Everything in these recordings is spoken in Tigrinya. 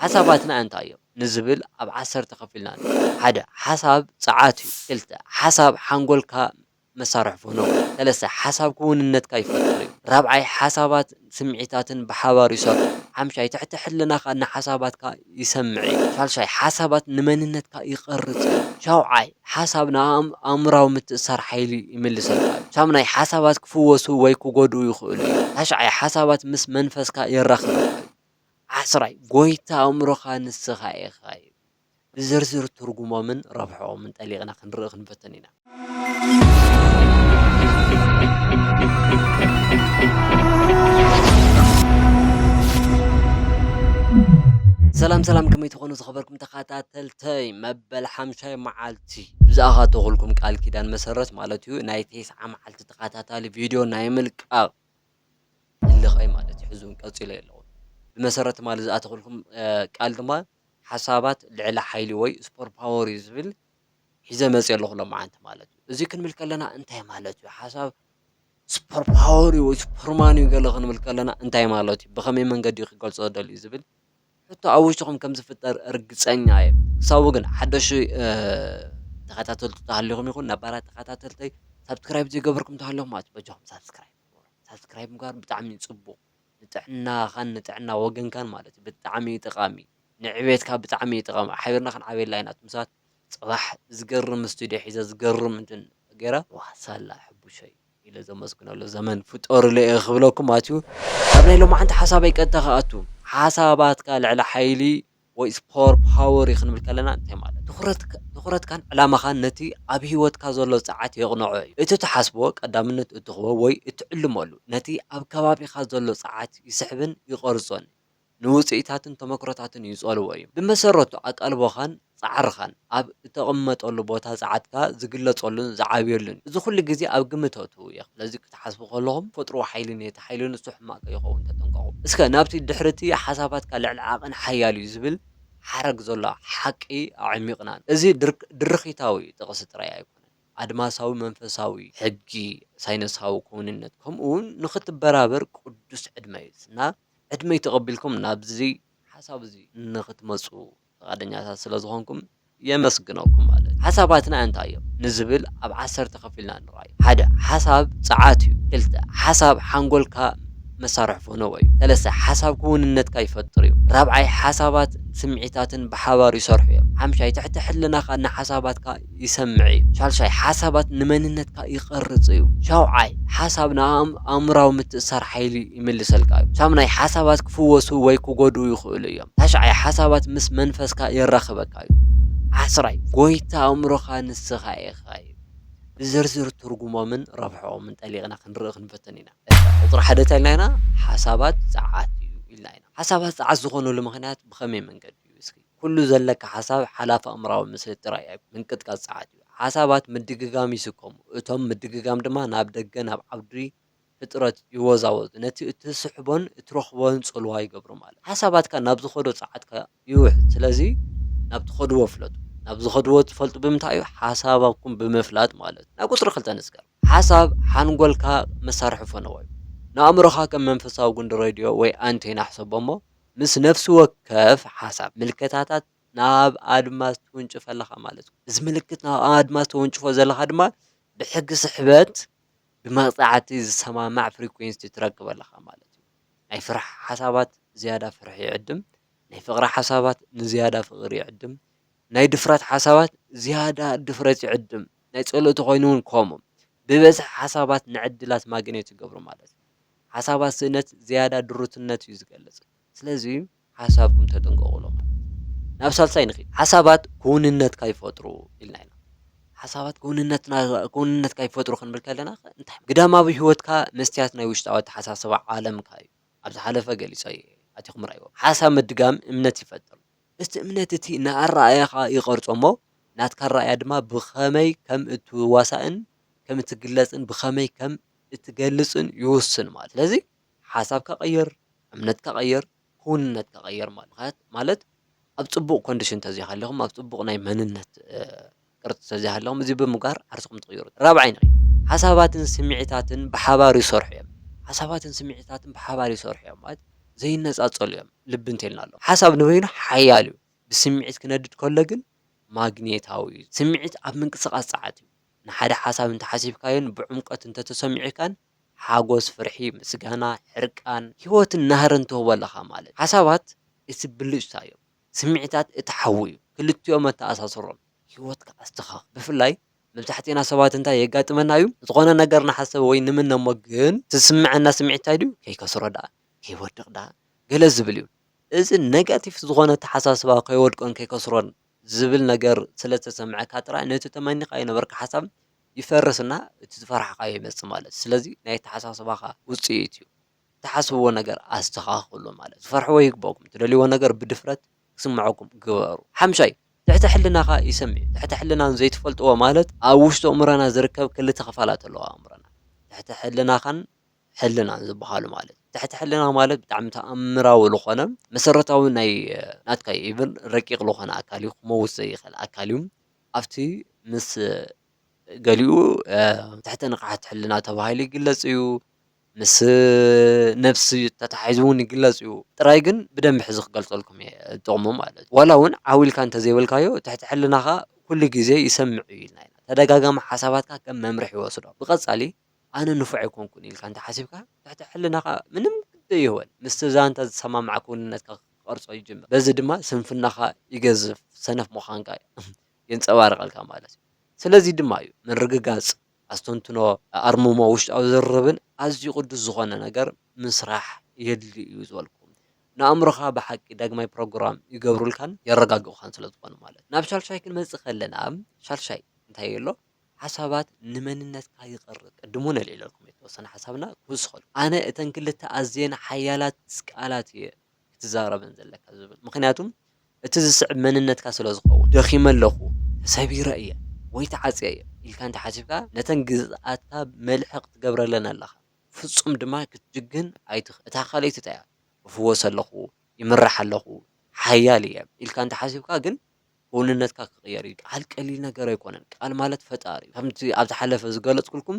ሓሳባትና እንታይ እዮም ንዝብል ኣብ ዓሰርተ ከፊልና ኣሎ። ሓደ፣ ሓሳብ ጸዓት እዩ። ክልተ፣ ሓሳብ ሓንጎልካ መሳርሒ ፎኖ። ሰለስተ፣ ሓሳብ ክውንነትካ ይፈጥር እዩ። ራብዓይ፣ ሓሳባትን ስምዒታትን ብሓባር ይሰርሑ። ሓምሻይ፣ ትሕቲ ሕልናኻ ንሓሳባትካ ይሰምዕ እዩ። ሻልሻይ፣ ሓሳባት ንመንነትካ ይቐርጽ እዩ። ሻውዓይ፣ ሓሳብ ንኣእምሮኣዊ ምትእስሳር ሓይሊ ይምልሰልካ እዩ። ሻምናይ፣ ሓሳባት ክፍወሱ ወይ ክጎድኡ ይኽእሉ እዮም። ታሽዓይ፣ ሓሳባት ምስ መንፈስካ የራኽበካ እዩ። ዓስራይ፣ ጐይታ ኣእምሮኻ ንስኻ ኢኻ እዩ። ብዝርዝር ትርጉሞምን ረብሕኦምን ጠሊቕና ክንርኢ ክንፍትን ኢና። ሰላም ሰላም ከመይ ትኾኑ ዝኸበርኩም ተኸታተልተይ መበል ሓምሻይ መዓልቲ ብዝኣኻተኹልኩም ቃል ኪዳን መሰረት ማለት እዩ ናይ ቴስዓ መዓልቲ ተኸታታሊ ቪድዮ ናይ ምልቃቕ ህልኸይ ማለት እዩ። ሕዚ'ውን ቀጺለዮ ኣለኹ። ብመሰረት ትማሊ ዝኣተኹልኩም ቃል ድማ ሓሳባት ልዕለ ሓይሊ ወይ ስፖር ፓወር እዩ ዝብል ሒዘ መጺኤ ኣለኹ ሎምዓንቲ ማለት እዩ። እዚ ክንብል ከለና እንታይ ማለት እዩ? ሓሳብ ስፖር ፓወር እዩ ወይ ሱፐርማን እዩ ገለ ክንብል ከለና እንታይ ማለት እዩ? ብኸመይ መንገዲ ክገልጾ ደልዩ ዝብል ሕቶ ኣብ ውሽጥኹም ከም ዝፍጠር ርግጸኛ እየ። ክሳቡ ግን ሓደሽ ተኸታተልቱ ተሃሊኹም ይኹን ነባራት ተኸታተልተይ ሳብስክራይብ ዘይገበርኩም ተሃለኹም ማለት እዩ በጃኹም ሳብስክራይብ ሳብስክራይብ ምግባር ብጣዕሚ እዩ ፅቡቅ ንጥዕናኻን ንጥዕና ወገንካን ማለት እዩ ብጣዕሚ እዩ ጠቃሚ ንዕቤትካ ብጣዕሚ እዩ ጠቃሚ ሓቢርና ክንዓብየላ ኢና እቶም ሰባት ፅባሕ ዝገርም ስቱድዮ ሒዘ ዝገርም እንትን ገይረ ዋ ሳላ ሕቡሸይ ኢለ ዘመስግነሉ ዘመን ፍጠሩለ እየ ክብለኩም ኣትዩ ኣብ ናይ ሎማዓንቲ ሓሳበይ ቀጥታ ክኣቱ ሓሳባትካ ልዕሊ ሓይሊ ወይስ ፖወር ፓወር እዩ ክንብል ከለና እንታይ ማለት እዩ? ትኹረትካ ትኹረትካን ዕላማኻን ነቲ ኣብ ህይወትካ ዘሎ ጸዓት የቕንዖ እዩ። እቲ ትሓስቦ፣ ቀዳምነት እትህቦ ወይ እትዕልመሉ፣ ነቲ ኣብ ከባቢኻ ዘሎ ጸዓት ይስሕብን ይቐርጾን እዩ። ንውጽኢታትን ተመክሮታትን ይጸልዎ እዩ። ብመሰረቱ ኣቃልቦኻን ጻዕርኻን። ኣብ እተቐመጠሉ ቦታ ጸዓትካ ዚግለጸሉን ዚዓብየሉን እዩ። እዚ ዅሉ ግዜ ኣብ ግምት ኣእትዉ ኢኹም። ስለዚ፣ ክትሓስቡ ከለኹም፣ ተፈጥሮኣዊ ሓይሊ ነቲ ሓይሊ ንሱ ሕማቕ ከይኸውን ተጠንቀቑ። እስከ ናብቲ ድሕሪ እቲ ሓሳባትካ ልዕሊ ዓቕን ሓያል እዩ ዚብል ሓረግ ዘሎ ሓቂ ኣዕሚቝና ንርኢ። እዚ ድርኺታዊ ጥቕሲ ጥራይ ኣይኰነን። ኣድማሳዊ መንፈሳዊ ሕጊ፣ ሳይነሳዊ ክውንነት፣ ከምኡውን ንኽትበራበር ቅዱስ ዕድመ እዩ። እና ዕድመይ ተቐቢልኩም ናብዚ ሓሳብ እዚ ንኽትመጹ ፍቓደኛታት ስለ ዝኾንኩም የመስግነኩም ማለት እዩ። ሓሳባትና እንታይ እዮም ንዝብል ኣብ ዓሰርተ ከፊልና ንርኣዮ። ሓደ፣ ሓሳብ ጸዓት እዩ። ክልተ፣ ሓሳብ ሓንጎልካ መሳርሒ ፈነወ እዩ። ሰለስተ፣ ሓሳብ ክውንነትካ ይፈጥር እዩ። ራብዓይ፣ ሓሳባት ስምዒታትን ብሓባር ይሰርሑ እዮም። ሓምሻይ፣ ትሕቲ ሕልናኻ ንሓሳባትካ ይሰምዕ እዩ። ሻልሻይ፣ ሓሳባት ንመንነትካ ይቐርጽ እዩ። ሻውዓይ፣ ሓሳብ ንኣእምሮኣዊ ምትእስሳር ሓይሊ ይምልሰልካ እዩ። ሻምናይ፣ ሓሳባት ክፍወሱ ወይ ክጎድኡ ይኽእሉ እዮም። ታሽዓይ፣ ሓሳባት ምስ መንፈስካ የራኽበካ እዩ። ዓስራይ፣ ጎይታ ኣእምሮኻ ንስኻ ኢኻ እዩ። ብዝርዝር ትርጉሞምን ረብሕኦምን ጠሊቕና ክንርኢ ክንፍትን ኢና። እታ ቁጽሪ ሓደ እንታይ ኢልና ኢና ሓሳባት ጸዓት እዩ ኢልና ኢና። ሓሳባት ጸዓት ዝኾነሉ ምኽንያት ብኸመይ መንገዲ እዩ እስኪ? ኩሉ ዘለካ ሓሳብ ሓላፊ ኣእምሮኣዊ ምስሊ ጥራይ እዩ፣ ምንቅጥቃጥ ጸዓት እዩ። ሓሳባት ምድግጋም ይስከሙ፣ እቶም ምድግጋም ድማ ናብ ደገ ናብ ዓውዲ ፍጥረት ይወዛወዙ፣ ነቲ እትስሕቦን እትረኽቦን ጽልዋ ይገብሩ ማለት እዩ። ሓሳባትካ ናብ ዝኸዶ ጸዓት ከኣ ይውሕዝ። ስለዚ ናብ ትኸድዎ ፍለጡ። ናብ ዝኸድዎ እትፈልጡ ብምንታይ እዩ? ሓሳባኩም ብምፍላጥ ማለት እዩ። ናብ ቁጽሪ ክልተ ንስገር። ሓሳብ ሓንጎልካ መሳርሒ ፈነወ እዩ። ንኣእምሮኻ ከም መንፈሳዊ ጉንዲ ሬድዮ ወይ ኣንቴና ሕሰቦ እሞ፣ ምስ ነፍሲ ወከፍ ሓሳብ፣ ምልከታታት ናብ ኣድማስ ትውንጭፍ ኣለኻ ማለት እዩ። እዚ ምልክት ናብ ኣድማስ ተወንጭፎ ዘለኻ ድማ ብሕጊ ስሕበት ብመቕጻዕቲ ዝሰማማዕ ፍሪኩዌንሲቲ ትረክብ ኣለኻ ማለት እዩ። ናይ ፍርሒ ሓሳባት ዝያዳ ፍርሒ ይዕድም፣ ናይ ፍቕሪ ሓሳባት ንዝያዳ ፍቕሪ ይዕድም፣ ናይ ድፍረት ሓሳባት ዝያዳ ድፍረት ይዕድም፣ ናይ ጸሎት ተኾይኑ እውን ከምኡ። ብበዝሒ ሓሳባት ንዕድላት ማግኔት ይገብሩ ማለት እዩ። ሓሳባት ስእነት ዝያዳ ድሩትነት እዩ ዝገልጽ። ስለዚ ሓሳብኩም ተጠንቀቑ ኢሎም ማለት እዩ። ናብ ሳልሳይ ንኺድ። ሓሳባት ክውንነት ካይፈጥሩ ኢልና ኢና። ሓሳባት ክውንነትና ክውንነት ካይፈጥሩ ክንብል ከለናኸ እንታይ ግዳማዊ ህይወትካ መስትያት ናይ ውሽጣዊ ኣተሓሳስባ ዓለምካ እዩ። ኣብ ዝሓለፈ ገሊጸዮ እየ። ኣቲኹም ርኣይዎ። ሓሳብ ምድጋም እምነት ይፈጥር። እቲ እምነት እቲ ንኣረኣእያኻ ይቐርጾ እሞ ናትካ ኣረኣእያ ድማ ብኸመይ ከም እትዋሳእን ከም እትግለጽን ብኸመይ ከም እትገልጽን ይውስን ማለት ስለዚ ሓሳብካ ቀይር እምነትካ ቀይር ክውንነትካ ቀይር ማለት ምክንያት ማለት ኣብ ጽቡቕ ኮንዲሽን ተዘይሃለኹም ኣብ ጽቡቕ ናይ መንነት ቅርጺ ተዘይሃለኹም እዚ ብምግባር ዓርስኹም ትቕይሩ ራብዓይ ነጥቢ ሓሳባትን ስምዒታትን ብሓባር ይሰርሑ እዮም ሓሳባትን ስምዒታትን ብሓባር ይሰርሑ እዮም ማለት ዘይነጻጸሉ እዮም ልቢ እንተልና ኣሎ ሓሳብ ንበይኑ ሓያል እዩ ብስምዒት ክነድድ ከሎ ግን ማግኔታዊ እዩ ስምዒት ኣብ ምንቅስቓስ ጸዓት እዩ ንሓደ ሓሳብ እንተሓሲብካዮን ብዕምቆት እንተተሰሚዑካን ሓጎስ፣ ፍርሒ፣ ምስጋና፣ ሕርቃን፣ ህይወትን ናህርን ትህቦ ኣለኻ ማለት እዩ። ሓሳባት እቲ ብልጭታ እዮም። ስምዒታት እቲ ሓዊ እዩ። ክልቲኦም ኣተኣሳስሮም። ህይወትካ ኣስተኻኽል። ብፍላይ መብዛሕቲእና ሰባት እንታይ የጋጥመና እዩ? ዝኾነ ነገር ንሓሰብ ወይ ንምነ እሞ ግን እቲ ዝስመዐና ስምዒት እንታይ ድዩ? ከይከስሮ ደኣ? ከይወድቕ ደኣ? ገለ ዝብል እዩ። እዚ ነጋቲፍ ዝኾነ ኣተሓሳስባ ከይወድቆን ከይከስሮን ዝብል ነገር ስለ ዝተሰምዐካ ጥራይ ነቲ ተመኒኻዮ ዝነበርካ ሓሳብ ይፈርስ እና እቲ ዝፈራሕኻዮ ይመጽእ ማለት እዩ። ስለዚ ናይ ኣተሓሳስባኻ ውጽኢት እዩ። እትሓስብዎ ነገር ኣስተኻኽሉ ማለት እዩ። ክትፈርሕዎ ይግበኣኩም። እትደልይዎ ነገር ብድፍረት ክስምዐኩም ግበሩ። ሓምሻይ፣ ትሕተ ሕልናኻ ይሰምዕ እዩ። ትሕተ ሕልና ንዘይትፈልጥዎ ማለት ኣብ ውሽጢ ኣእምሮና ዝርከብ ክልተ ክፋላት ኣለዎ ኣብ ኣእምሮና። ትሕተ ሕልናኻን ሕልና ዝበሃሉ ማለት እዩ። ትሕቲ ሕልና ማለት ብጣዕሚ ተኣምራዊ ልኾነ መሰረታዊ ናይ ናትካ ኢቭን ረቂቕ ልኾነ ኣካል እዩ ክመውት ዘይኸል ኣካል እዩ። ኣብቲ ምስ ገሊኡ ትሕተ ንቕሓት ሕልና ተባሂሉ ይግለጽ እዩ። ምስ ነፍሲ ተታሒዙ እውን ይግለጽ እዩ። ጥራይ ግን ብደንቢ ሕዚ ክገልጸልኩም እየ ጥቕሙ ማለት እዩ። ዋላ እውን ዓው ኢልካ እንተዘይበልካዮ ትሕቲ ሕልናኻ ኩሉ ግዜ ይሰምዕ እዩ ኢልና ኢና። ተደጋጋሚ ሓሳባትካ ከም መምርሒ ይወስዶ። ብቐጻሊ ኣነ ንፉዕ ኣይኮንኩን ኢልካ እንተ ሓሲብካ፣ ትሕቲ ሕልናኻ ምንም ግዲ ኣይህቦን። ምስቲ ዛንታ ዝሰማማዕ ክውንነትካ ክቐርጾ ይጅምር። በዚ ድማ ስንፍናኻ ይገዝፍ፣ ሰነፍ ምዃንካ የንጸባርቐልካ ማለት እዩ። ስለዚ ድማ እዩ ምርግጋጽ፣ ኣስተንትኖ፣ ኣኣርምሞ፣ ውሽጣዊ ዝርርብን ኣዝዩ ቅዱስ ዝኾነ ነገር ምስራሕ የድሊ እዩ ዝበልኩም። ንኣእምሮኻ ብሓቂ ዳግማይ ፕሮግራም ይገብሩልካን የረጋግኡኻን ስለዝኾኑ ማለት እዩ። ናብ ሻልሻይ ክንመጽእ ከለና ሻልሻይ እንታይ ኣሎ? ሓሳባት ንመንነትካ ይቕርጽ። ቅድም እውን ኣልዒለልኩም እየ እተወሰነ ሓሳብና ክውስኸሉ። ኣነ እተን ክልተ ኣዝየን ሓያላት ቃላት እየ ክትዛረበን ዘለካ ዝብል። ምኽንያቱ እቲ ዝስዕብ መንነትካ ስለ ዝኸውን። ደኺመ ኣለኹ፣ ተሰቢረ እየ፣ ወይ ተዓጽየ እየ ኢልካ እንተ ሓሲብካ ነተን ግዝኣትካ መልሕቕ ትገብረለን ኣለኻ። ፍጹም ድማ ክትጅግን ኣይትኽእልን። እታ ካልኣይቲ እንታይ እያ? እፍወስ ኣለኹ፣ ይምራሕ ኣለኹ፣ ሓያል እየ ኢልካ እንተ ሓሲብካ ግን ክውንነትካ ክቕየር እዩ። ቃል ቀሊል ነገር ኣይኮነን። ቃል ማለት ፈጣሪ እዩ። ከምቲ ኣብ ዝሓለፈ ዝገለጽኩልኩም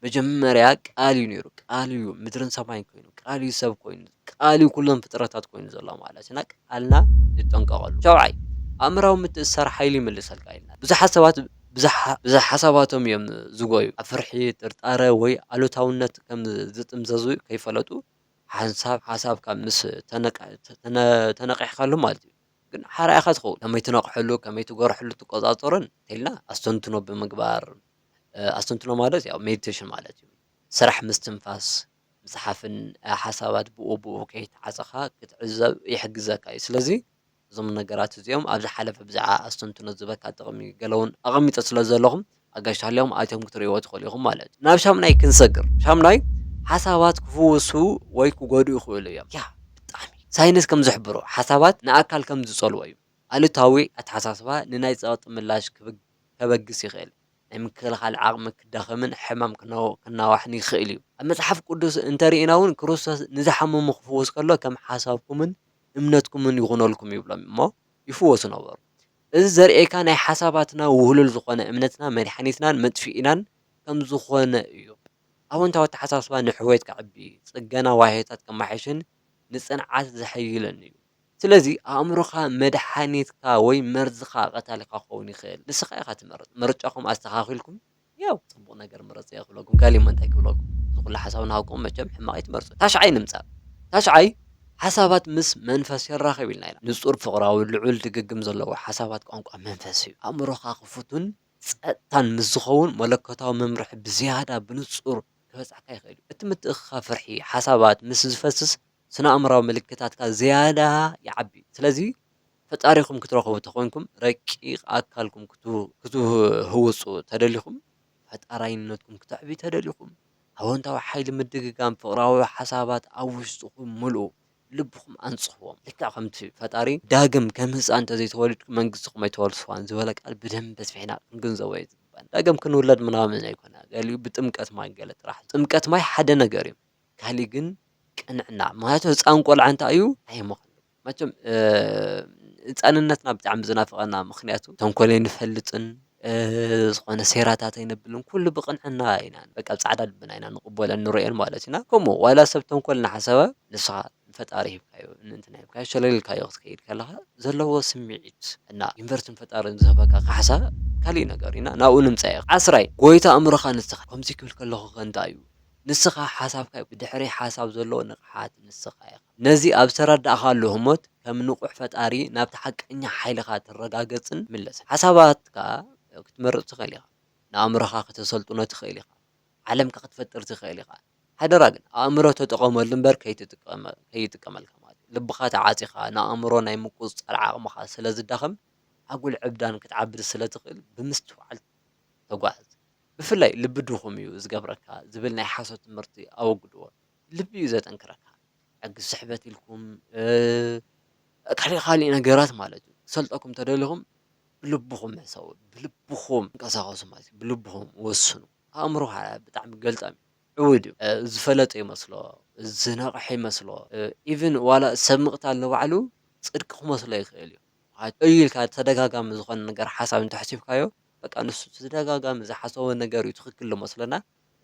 መጀመርያ ቃል እዩ ነይሩ። ቃል እዩ ምድርን ሰማይን ኮይኑ፣ ቃል እዩ ሰብ ኮይኑ፣ ቃል እዩ ኩሎም ፍጥረታት ኮይኑ ዘሎ ማለት እዩ። እና ቃልና ንጠንቀቐሉ። ሻውዓይ፣ ኣእምራዊ ምትእስሳር ሓይሊ ይምልሰልካ ኢልና። ብዙሓት ሰባት ብዘይ ሓሳባቶም እዮም ዝጎዩ። ኣብ ፍርሒ፣ ጥርጣረ ወይ ኣሉታውነት ከም ዝጥምዘዙ ከይፈለጡ ሓንሳብ ሓሳብካ ምስ ተነቓሕካሉ ማለት እዩ። ግን ሓራ ኢኻ ትኸውን። ከመይ ትነቕሐሉ፣ ከመይ ትጎርሐሉ ትቆጻጸሮን እንተልና ኣስተንትኖ ብምግባር ኣስተንትኖ ማለት ያው ሜዲቴሽን ማለት እዩ። ስራሕ ምስትንፋስ ምጽሓፍን ሓሳባት ብኡ ብኡ ከይተዓጸኻ ክትዕዘብ ይሕግዘካ እዩ። ስለዚ እዞም ነገራት እዚኦም ኣብ ዝሓለፈ ብዛዕባ ኣስተንትኖ ዝበካ ጥቕሚ ገለውን ኣቐሚጠ ስለ ዘለኹም ኣጋይሽ ተሃልዮም ኣትዮም ክትርእይዎ ትኽእሉ ኢኹም ማለት እዩ። ናብ ሻምናይ ክንሰግር ሻምናይ ሓሳባት ክፍውሱ ወይ ክጎድኡ ይኽእሉ እዮም ያ ብጣዕሚ ሳይንስ ከም ዝሕብሮ ሓሳባት ንኣካል ከም ዝጸልዎ እዩ ኣሉታዊ ኣተሓሳስባ ንናይ ጸቕጢ ምላሽ ከበግስ ይኽእል ናይ ምክልኻል ዓቕሚ ክዳኸምን ሕማም ክናዋሕን ይኽእል እዩ ኣብ መጽሓፍ ቅዱስ እንተርኢና ውን ክርስቶስ ንዝሓመሙ ክፍውስ ከሎ ከም ሓሳብኩምን እምነትኩምን ይኹነልኩም ይብሎም እሞ ይፍወሱ ነበሩ እዚ ዘርእየካ ናይ ሓሳባትና ውህሉል ዝኾነ እምነትና መድሓኒትናን መጥፊኢናን ከምዝኾነ እዩ። ኣወንታዊ ኣተሓሳስባ ንሕውየት ከዕቢ፣ ጽገና ዋህዮታት ከማሕይሽን ንጽንዓት ዘሐይልን እዩ። ስለዚ ኣእምሮኻ መድሓኒትካ ወይ መርዝኻ ቀታሊኻ ክኸውን ይኽእል ንስኻ ኢኻ ትመርጽ። ምርጫኹም ኣስተኻኺልኩም። ያው ጽቡቅ ነገር ምረጹ እየ ክብለኩም ገሊኦም እንታይ ክብለኩም እዚ ኩሉ ሓሳብ ናሃብኩም መቸም ሕማቅ ኣይትመርጹ ታሽዓይ ንምጻእ ታሽዓይ ሓሳባት ምስ መንፈስ የራክብ ኢልና ኢና ንጹር ፍቅራዊ ልዑል ድግግም ዘለዎ ሓሳባት ቋንቋ መንፈስ እዩ ኣእምሮካ ክፉቱን ጸጥታን ምስ ዝከውን መለኮታዊ መምርሒ ብዝያዳ ብንጹር ክበጽሓካ ይክእል እዩ እቲ ምትእክካብ ፍርሒ ሓሳባት ምስ ዝፈስስ ስነኣእምራዊ ምልክታትካ ዝያዳ ይዓቢ ስለዚ ፈጣሪኹም ክትረኽቡ ተኾይንኩም ረቂቕ ኣካልኩም ክትህውፁ ተደሊኹም ፈጣራይነትኩም ክተዕብዩ ተደሊኹም ኣወንታዊ ሓይሊ ምድግጋም ፍቕራዊ ሓሳባት ኣብ ውሽጥኹም ምልኡ ልብኹም ኣንፅህዎም ልክዕ ከምቲ ፈጣሪ ዳግም ከም ህፃን እንተዘይተወሊድኩም መንግስትኹም ኣይተወርስዋን ዝበለ ቃል ብደንቢ ኣስፊሕና ክንግንዘቦ እዩ ዝግባና ዳግም ክንውለድ ምናምን ኣይኮነ ገሊኡ ብጥምቀት ማይ ገለ ጥራሕ እዩ ጥምቀት ማይ ሓደ ነገር እዩ ካሊእ ግን ቅንዕና ምኽንያቱ ህፃን ቆልዓ እንታይ እዩ ኣይምኽኑን መቸም ህጻንነትና ብጣዕሚ ዝናፍቀና ምክንያቱ ተንኮል ኣይንፈልጥን ዝኮነ ሴራታት ኣይነብልን ኩሉ ብቅንዕና ኢና በቃ ጻዕዳ ልብና ኢና ንቅበሎን ንርእዮን ማለት ኢና ከምኡ ዋላ ሰብ ተንኮል ናሓሰበ ንስካ ንፈጣሪ ሂብካዮ ንእንትና ሂብካዮ ሸለል ኢልካዮ ክትከይድ ከለካ ዘለዎ ስሚዒት እና ዩንቨርስን ፈጣርን ዝህበካ ካሕሳ ካሊእ ነገር እዩ እና ናብኡ ንምጻ ኢካ ዓስራይ ጎይታ ኣእምሮካ ንስካ ከምዚ ክብል ከለኩ ከ እንታይ እዩ ንስካ ሓሳብካ እዩ ብድሕሪ ሓሳብ ዘሎ ንቅሓት ንስካ ኢካ። ነዚ ኣብ ዝተረዳእካሉ ህሞት ከም ንቑሕ ፈጣሪ ናብቲ ሓቀኛ ሓይልኻ ትረጋገጽን ትምለስን። ሓሳባትካ ክትመርጽ ትኽእል ኢኻ። ንኣእምሮኻ ከተሰልጥኖ ትኽእል ኢኻ። ዓለምካ ክትፈጥር ትኽእል ኢኻ። ሓደራ ግን ኣእምሮ ተጠቐመሉ እምበር ከይጥቀመልካ ማለት እዩ። ልብኻ ተዓጺኻ ንኣእምሮ ናይ ምቁጽጻር ዓቕምኻ ስለ ዝዳኸም ኣጉል ዕብዳን ክትዓብድ ስለ ትኽእል ብምስትውዓል ተጓዓዝ። ብፍላይ ልቢ ድኹም እዩ ዝገብረካ ዝብል ናይ ሓሶት ትምህርቲ ኣወግድዎ። ልቢ እዩ ዘጠንክረካ ሕጊ ስሕበት ኢልኩም ካልእ ካልእ ነገራት ማለት እዩ ክሰልጠኩም ተደሊኹም ብልብኹም ሕሰቡ ብልብኹም ተንቀሳቀሱ ማለት እዩ ብልብኹም ወስኑ ኣእምሮ ከዓ ብጣዕሚ ገልጠም እዩ ዕዉት እዩ ዝፈለጠ ይመስሎ ዝነቅሐ ይመስሎ ኢቭን ዋላ ሰብ ምቅታል ንባዕሉ ፅድቂ ክመስሎ ይክእል እዩ እዩ ኢልካ ተደጋጋሚ ዝኮነ ነገር ሓሳብ እንተኣሕሲብካዮ በቃ ንሱ ተደጋጋሚ ዝሓሰቦ ነገር እዩ ትክክል ዝመስሎ እና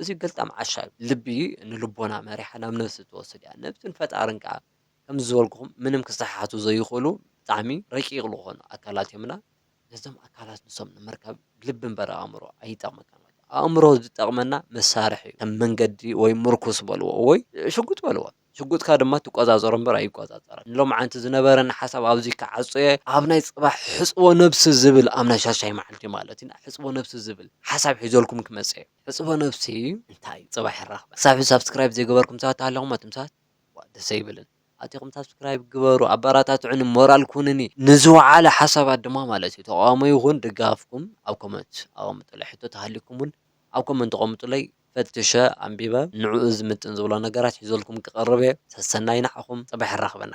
እዚ ገልጣም ዓሻ ልቢ ንልቦና መሪሓ ናብ ነብሲ ትወስድ እያ ነብስን ፈጣርን ከኣ ከምዚ ዝበልኩኹም ምንም ክሰሓሓቱ ዘይኽእሉ ብጣዕሚ ረቂቅ ልኾኑ ኣካላት እዮምና ነዞም ኣካላት ንሶም ንምርካብ ልቢ እምበር ኣእምሮ ኣይጠቅመካን ማለት እዩ ኣእምሮ ዝጠቅመና መሳርሒ እዩ ከም መንገዲ ወይ ምርኩስ በልዎ ወይ ሽጉጥ በልዎ ሽጉጥካ ድማ ትቆጻጸሮ እምበር ኣይቆጻጸርን። ንሎምዓንቲ ዝነበረኒ ሓሳብ ኣብዚ ክዓጹ'የ። ኣብ ናይ ጽባሕ ሕጽቦ ነብሲ ዝብል ኣብ ናይ ሻድሻይ መዓልቲ ማለት ኢና ሕጽቦ ነብሲ ዝብል ሓሳብ ሒዘልኩም ክመጽእ'የ። ሕጽቦ ነብሲ እንታይ እዩ ጽባሕ ንራኽበ። ክሳብ ሕጂ ሳብስክራይብ ዘይገበርኩም ሰባት ተሃሊኹም ኣቱም ሰባት ዋእ ደስ ኣይብልን ኣቲኹም ሳብስክራይብ ግበሩ ኣባራታትዑኒ ሞራል ኩኑኒ ንዝወዓለ ሓሳባት ድማ ማለት እዩ ተቃውሞ ይኹን ድጋፍኩም ኣብ ኮመንት ኣቀምጡለይ ሕቶ ተሃሊኩም ውን ኣብ ኮመንት ኣቀምጡለይ ፈትሸ ኣንቢበ ንዕኡ ዝምጥን ዝብሎ ነገራት ሒዘልኩም ክቀርብ እየ ሰሰናዩ ንዓኹም ጽባሕ የራኽበና።